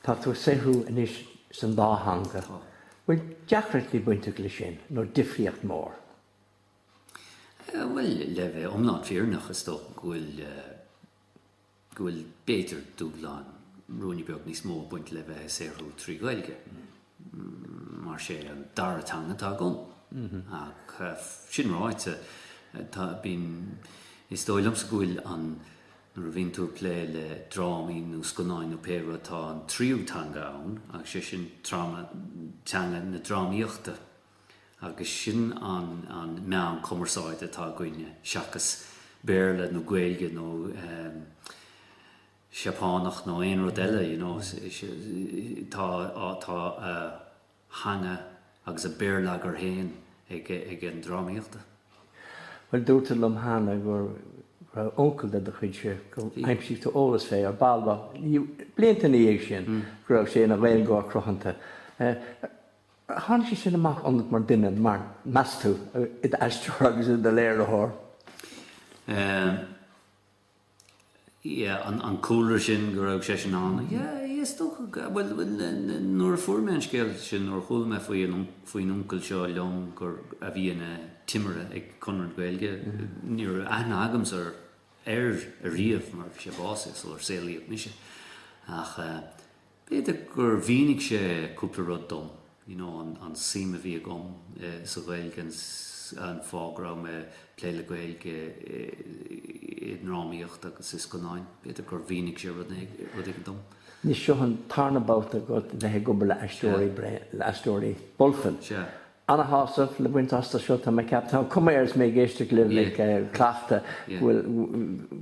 Tá tú ag saothrú anois san dá theanga. Tá. Bhfuil deacrachtaí bainteach le sin nó difríocht mór? Bhuel, le bheith iomlán fírinneach is dócha go bhfuil, go bhfuil b'fhéidir dúshlán, ruainne beag níos mó ag baint le bheith ag saothrú trí Ghaeilge. mar sé an dara teanga atá agam. Ach sin ráite, tá, bíonn, is dóigh liomsa go bhfuil an, nuair a bhíonn tú ag plé le drámaí nó scannáin nó pé rud, tá an tríú teanga ann agus sé sin tráma, teanga na drámaíochta agus sin an, an meán cumarsáide atá againne seachas Béarla nó Gaeilge nó eh, Seapánach nó aon rud eile, you know, tá a theanga agus a béarlagair féin ag an drámaíocht. Bhuel, dúirt tú liom cheana go raibh uncail de do chuidse, gur aimsigh tú eolas fé ar ball b'fhéidir blianta ina dhiaidh sin, go raibh sé ina Ghaeilgeoir cruthanta. Ar tháinig sé sin amach ionat mar duine, mar, meas tú, i d'aisteoir agus i do léiritheoir? an cúlra sin go raibh seisean ann. Yeah, is dócha go, bhuel, nuair a fuair mé an scéal sin, nuair a chuala mé faoin uncail seo liom gur, a bhí ina timire ag Conradh na Gaeilge, ní raibh aithne agamsa air ariamh mar bhí sé básaithe, sular saolaíodh mise. Ach eh, B'fhéidir gur mhínigh sé cúpla rud dom, you know, an suim a bhí agam sa Ghaeilge, an fáth go raibh mé ag plé le Gaeilge i ndrámaíocht agus i scannáin. B'fhéidir gur mhínigh sé rud éigin dom. Anois, seo an tarna babhta agat a bheith ag obair le Aisteoirí Bulfin. ana-shásamh le baint astu seo. Tá mé ag ceapadh, tá an cuma air is mé ag éisteacht libh ag cleachtadh go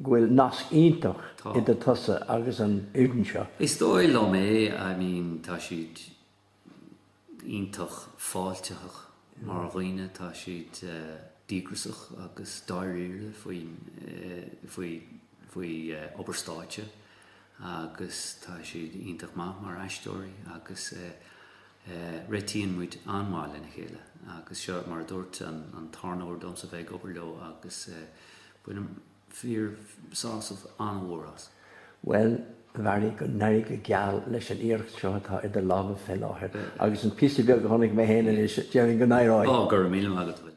bhfuil nasc iontach idir tusa agus an fhoireann seo. Is dóigh liom é, I mean tá siad iontach fáiltiteach mar dhaoine, tá siad díograsach agus dáiríre faoin, faoi, faoi obair stáitse agus tá siad iontach maith mar aisteoirí agus eh, Réitíonn muid an-mhaith lena chéile agus seo mar a dúirt an tarna uair domsa bheith ag obair leo agus bainim fíor sásamh an-mhór as. Bhuel, a Bharry, go n-éirí go geal leis an iarracht seo atá idir lámha fé láthair, agus an píosa beag a chonaic mé fhéin anois, déarfainn go n-éireoidh! Go raibh míle maith agat a Bhil.